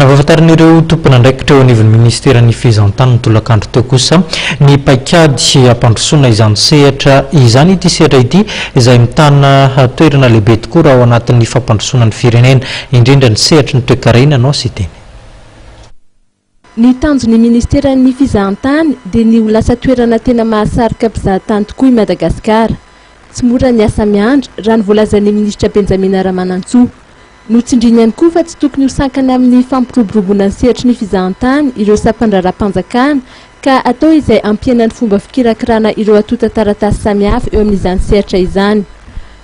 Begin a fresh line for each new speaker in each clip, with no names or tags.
Nampahafantarin'ireo tompon'andraikitra eo anivon'ny minisiteran'ny Fehezantany ny tolakandro teo kosa ny paikady hampandrosoana izany sehatra izany ity sehatra ity izay mitana toerana lehibe tokoa raha ao anatin'ny fampandrosoana ny firenena, indrindra ny sehatry ny toekarena no Siteny.
Ny tanjon'ny minisiteran'ny Fizahantany dia ny ho lasa toerana tena mahasarika mpizahatany tokoa i Madagasikara. Tsy mora ny asa miandry, raha ny voalazan'ny minisitra Benjamina Ramanantsoa. Notsindriany ihany koa fa tsy tokony ho sankana amin'ny fampiroboroboana ny sehatry ny fizahantany ireo sampandraharaham-panjakana ka atao izay hampihenany fomba fikirakirana ireo antontan-taratasy samihafa eo amin'izany sehatra izany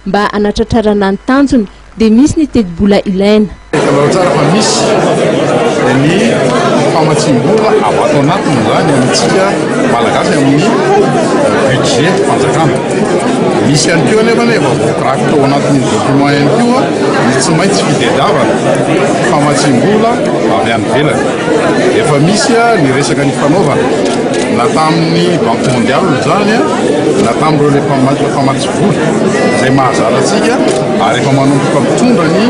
mba hanatratrarana ny tanjony dia misy ny tetibola ilaina. Fanao tsara fa
misy ny famatsiam-bola ao ato anatiny izany amintsika Malagasy amin'ny budget fanjakana. Misy ihany koa anefa ilay vaovao grave tao anatin'iny document ihany koa ny tsy maintsy fitediavana famatsiam-bola avy any ivelany. Efa misy ny resaka nifanaovana na tamin'ny Banque Mondiale izany na tamin'ireo le mpamatsy mpamatsy vola izay mahazatra antsika ary efa manomboka mitondra ny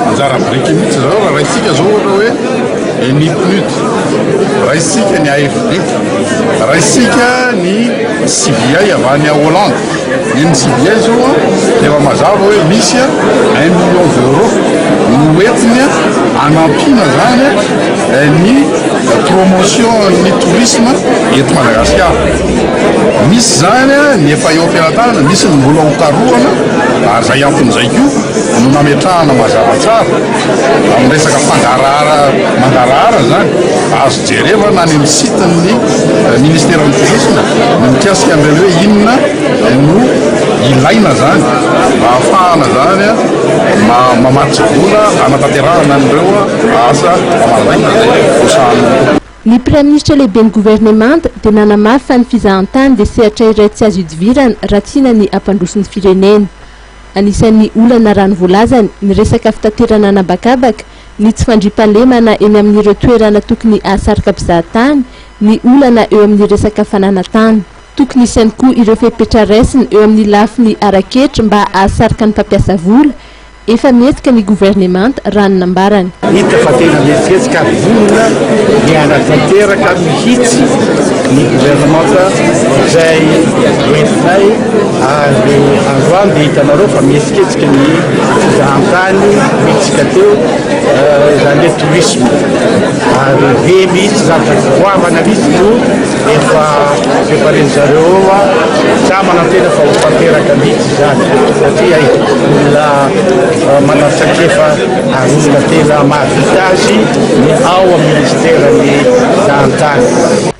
anjara biriky mihitsy izao raha raisitsika izao ohatra hoe ny PNUD, raisitsika ny AFD, raisitsika ny Cbi avy any Hollande. Iny cbi izao an, dia efa mazava hoe misy an un million d'euros noentiny an hanampiana izany an ny promotion ny tourisme eto Madagasikara. Misy izany an ny efa eo am-pelatanana, misy ny mbola ho karohana, ary izay antony izay koa no nametrahana mazava tsara amin'ny resaka fangarahara mangarahara izany. Jereo na any amin'ny site ny Ministeran'ny Tourisme ny mikasika an'ireny hoe inona no ilaina izany mba hahafahana izany mamatotra vola hanatanterahana an'ireo asa maraina izay hosahanin'ny. Ny Praiminisitra
Lehiben'ny Governemanta dia nanamafy fa ny fizahantany dia sehatra iray tsy azo idivirana raha tiana ny hampandroso ny firenena. Anisan'ny olana raha ny voalazany ny resaka fitaterana an'habakabaka ny tsy fandriampahalemana eny amin'ireo toerana tokony hahasarika mpizahatany, ny olana eo amin'ny resaka fananantany. Tokony hisy ihany koa ireo fepetra raisina eo amin'ny lafiny ara-ketry mba hahasarika ny mpampiasa vola. Efa mihetsika ny governemanta, raha ny nambarany. Hita fa tena
mihetsiketika ary vonona ny hanatanteraka mihitsy ny governemanta izay hoentinay. Ary androany dia hitanareo fa mihetsiketsika ny fizahantany miditsika teo, izany hoe tourisme. Ary be mihitsy zavatra goavana mihitsy no efa préparé-ndry zareo ao an. Za manantena fa ho tanteraka mihitsy izany satria hay, olona manan-tsaikefa ary olona tena mahavita azy ny ao amin'ny Minisiteran'ny fizahantany.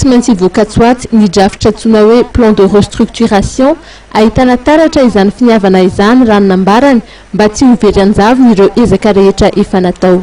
Tsy maintsy hivoaka tsoaty ny drafitra antsoina hoe Plan de restructuration ahitana taratra izany finiavana izany raha ny nambarany mba tsy ho very anjavony ireo ezaka rehetra efa natao.